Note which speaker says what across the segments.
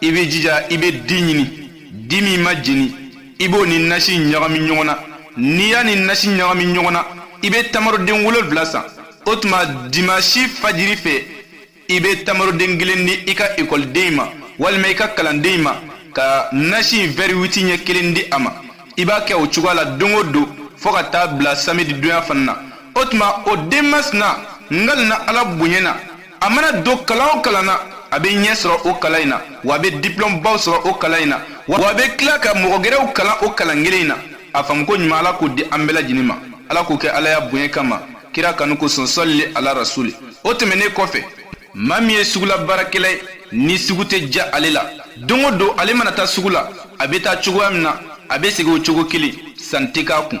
Speaker 1: i bɛ jija i bɛ di ɲini di min ma jeni i b'o ni nasi ɲagami ɲɔgɔn na n'i y'a ni nasi ɲagami ɲɔgɔn na i bɛ tamaroden wolonwula san o tuma dimansi fajiri fɛ i bɛ tamaroden kelen di i ka ekɔliden ma walima i ka kalanden ma ka nasi in wɛri witi ɲɛ kelen di a ma i b'a kɛ o cogoya la don o don fo ka taa bila samedi donya fana na o tuma o den masina n kalina ala bonya na a mana don kalan o kalan na a bɛ ɲɛ sɔrɔ o kalan in na wa a bɛ diplɔm baw sɔrɔ o kalan in na wa a bɛ tila ka mɔgɔ gɛrɛw kalan o kalan kelen in na a faamuko ɲuman ala k'o di an bɛɛ lajɛlen ma ala k'o kɛ alaya bonya kama kira kanu kosɔn sɔlili ala rasuli o tɛmɛnnen kɔfɛ maa min ye sugula baarakɛla ye ni sugu tɛ diya ale la don o don ale mana taa sugu la a bɛ taa cogoya min na a bɛ segin o cogo kelen san tɛ k'a kun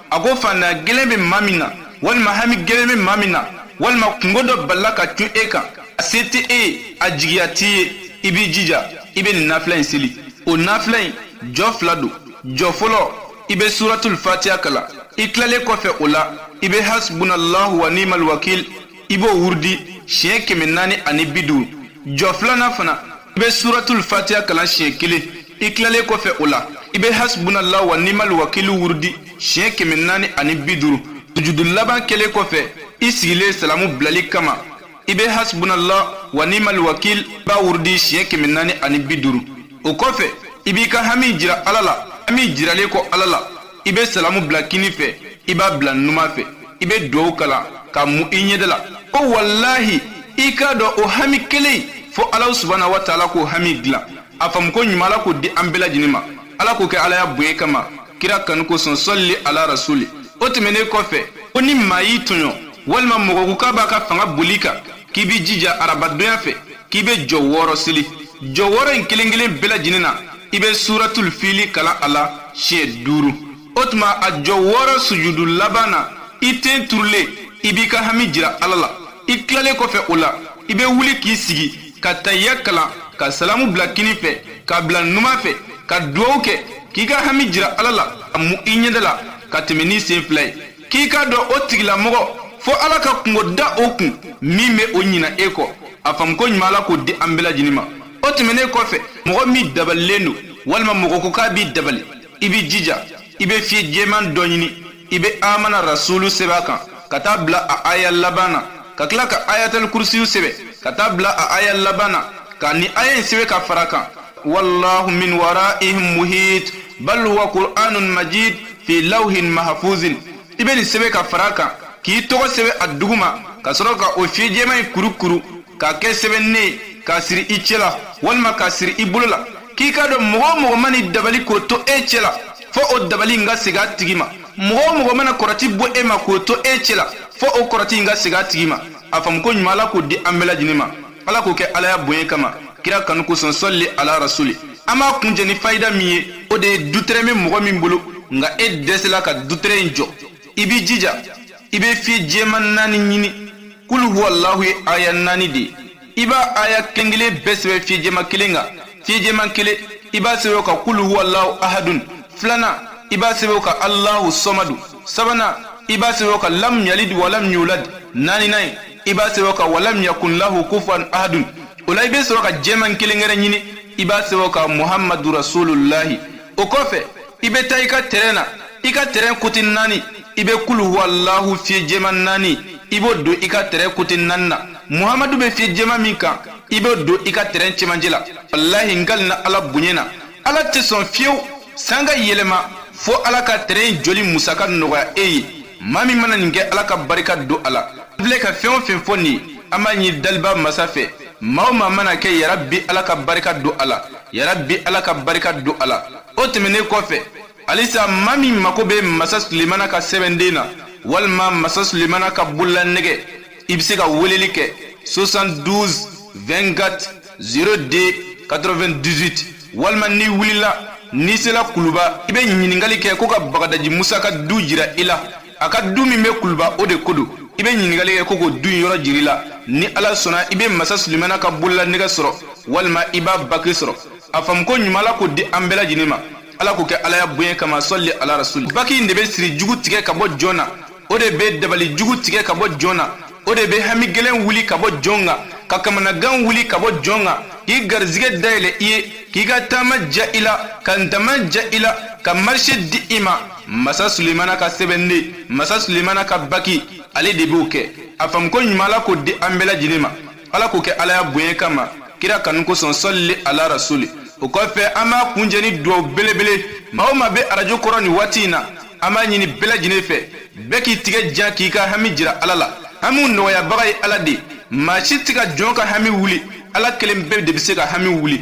Speaker 1: a ko fantanya gɛlɛn bɛ maa min na walima hami gɛlɛn bɛ maa min na walima kunko dɔ balala ka cun e kan a se tɛ e ye a jigiya t'i ye i b'i jija i bɛ nin nafila in seli o nafila in jɔ fila don jɔ fɔlɔ i bɛ suratul fatiya kalan i tilalen kɔfɛ o la i bɛ hasbunallahu wa ni'mal wakil i b'o wurudi siɲɛ kɛmɛ naani ani bi duuru jɔ filanan fana i bɛ suratul fatiya kalan siɲɛ kelen i tilalen kɔfɛ o la i bɛ hasbunala wa nimal wakili wurudi siɲɛ kɛmɛ naani ani bi duuru sujudu laban kɛlen kɔfɛ i sigilen salamu bilali kama i bɛ hasbunala wa nimal wakil b'a wurudi siɲɛ kɛmɛ naani ani bi duuru o kɔfɛ i b'i ka hami jira ala la hami jiralen kɔ ala la i bɛ salamu bila kini fɛ i b'a bila numan fɛ i bɛ dugawu kalan k'a mu i ɲɛda la ko walahi i k'a dɔn o hami kelen fo ala subana wa taala k'o hami dilan a faamuko ɲuman ala k'o di an bɛɛ lajɛlen ma ala k'o kɛ alaya bonya kama kira kanu kosɔn sɔlili ala rasuli o tɛmɛnen kɔfɛ ko ni maa y'i tɔɲɔ walima mɔgɔ ko k'a b'a ka fanga boli i kan k'i b'i jija araba donya fɛ k'i bɛ jɔ wɔɔrɔ seli jɔ wɔɔrɔ in kelen kelen bɛɛ lajɛlen na i bɛ suratul fili kalan a la siɲɛ duuru o tuma a jɔ wɔɔrɔ sujudu laban na i ten turulen i b'i ka hami jira ala la i tilalen kɔfɛ o la i bɛ wuli k'i sigi ka tahiya kalan ka salamu bila kini fɛ k'a bila numan fɛ ka dugawu kɛ k'i ka hami jira ala la k'a mu i ɲɛda la ka tɛmɛ n'i sen fila ye k'i k'a dɔn o tigilamɔgɔ fo ala ka kunko da o kun min bɛ o ɲina e kɔ a faamuko ɲuman ala k'o di an bɛɛ lajɛlen ma o tɛmɛnen kɔfɛ mɔgɔ min dabalilen don walima mɔgɔ ko k'a b'i dabali i bɛ jija i bɛ fiye jɛman dɔ ɲini i bɛ amana rasulu sɛbɛn a kan ka taa bila a aya laban na ka tila ka ayatali kurusiyu sɛbɛn ka taa bila a aya laban na ka nin aya in sɛbɛn ka fara a kan wallahu min waraihim muhit bal huwa qur'anun majid fi lawhin mahfuzin i bɛ nin sɛbɛn ka fara kan k'i tɔgɔ sɛbɛn a duguma ka sɔrɔ ka o fiye jɛman in kurukuru k'a kɛ sɛbɛnden ye k'a siri i cɛ la walima k'a siri i bolo la k'i k'a dɔn mɔgɔ o mɔgɔ mana i dabali k'o to e cɛ la fo o dabali in ka segin a tigi ma mɔgɔ o mɔgɔ mana kɔrɔti bɔ e ma k'o to e cɛ la fo o kɔrɔti in ka segin a tigi ma a faamuko ɲuman ala k'o di an bɛɛ lajɛlen ma ala k'o kɛ alaya bonya kama kira kanu kosɔn sɔli ala rasuli an b'a kuncɛ ni fayida min ye o de ye dutɛrɛn bɛ mɔgɔ min bolo nka e dɛsɛla ka dutɛrɛn in jɔ i b'i jija i bɛ fiye jɛman naani ɲini kulu huwalahu ye aya naani de ye i b'a aya kelen kelen bɛɛ sɛbɛn fiye jɛman kelen kan fiye jɛman kelen i b'a sɛbɛn o kan kulu huwalahu ahadun filanan i b'a sɛbɛn o kan alahu sɔmadu sabanan i b'a sɛbɛn o kan lam yalid wa lam yulad naaninan ye i b'a sɛbɛn o kan walam yakun lahu kufuwan ahadun o la i bɛ sɔrɔ ka jɛman kelen wɛrɛ ɲini i b'a sɛbɛn o kan muhamadu rasulullahi o kɔfɛ i bɛ taa i ka tɛrɛn na i ka tɛrɛn kote naani i bɛ kulu huwalahu fiye jɛman naani i b'o don i ka tɛrɛn kote naani na muhamadu bɛ fiye jɛman min kan i b'o don i ka tɛrɛn cɛmancɛ la walahi n kalina ala bonya na ala tɛ sɔn fewu san ka yɛlɛma fo ala ka tɛrɛn jɔli musaka nɔgɔya e ye maa min mana nin kɛ ala ka barika don a la a filɛ ka fɛn o fɛn fɔ nin an b'a ɲini daliba masa fɛ maa o maa man'a kɛ ya rabi ala ka barika don a la ya rabi ala ka barika don a la o tɛmɛnnen kɔfɛ halisa maa min mago bɛ masa sulemana ka sɛbɛnden na walima masa sulemana ka bololanɛgɛ i bɛ se ka weleli kɛ 72 24 02 98 walima n'i wulila n'i sela kuluba i bɛ ɲininkali kɛ ko ka bagadaji musa ka du jira i la a ka du min bɛ kuluba o de ko don i bɛ ɲininkali kɛ ko k'o du in yɔrɔ jira i la ni ala sɔnna i bɛ masa sulemana ka bololanɛgɛ sɔrɔ walima i b'a baki sɔrɔ a faamuko ɲuman ala k'o di an bɛɛ lajɛlen ma ala k'o kɛ alaya bonya kama sɔli ala rasuli baki in de bɛ siri jugu tigɛ ka bɔ jɔn na o de bɛ dabali jugu tigɛ ka bɔ jɔn na o de bɛ hami gɛlɛn wuli ka bɔ jɔn kan ka kamanagan wuli ka bɔ jɔn kan k'i garisigɛ dayɛlɛ i ye k'i ka taama diya i la ka ntaama diya i la ka marise di i ma masa sulemana ka sɛbɛnden masa sulemana ka baki ale de b'o kɛ a faamuko ɲuman ala k'o di an bɛɛ lajɛlen ma ala k'o kɛ alaya bonya kama kira kanu kosɔn sɔli ala rasuli o kɔfɛ an b'a kuncɛ ni duwaw belebele maa o maa bɛ arajo kɔrɔ nin waati in na an b'a ɲini bɛɛ lajɛlen fɛ bɛɛ k'i tigɛ jan k'i ka hami jira ala la hamiw nɔgɔyabaga ye ala de maa si tɛ ka jɔn ka hami wuli ala kelenpe de bɛ se ka hami wuli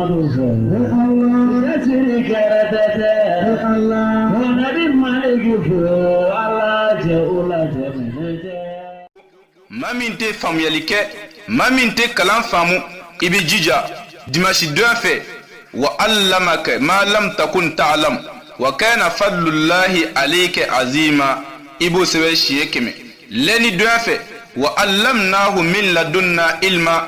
Speaker 1: Maa min tɛ faamuyali kɛ maa min tɛ kalan faamu i bɛ jija dimansi don fɛ wa allamaka ma lam takun ta'lamu wa kana fadlullahi alayka azima i b'o sɛbɛn siɲɛ kɛmɛ lɛndi don fɛ wa allamnahu min ladunna ilma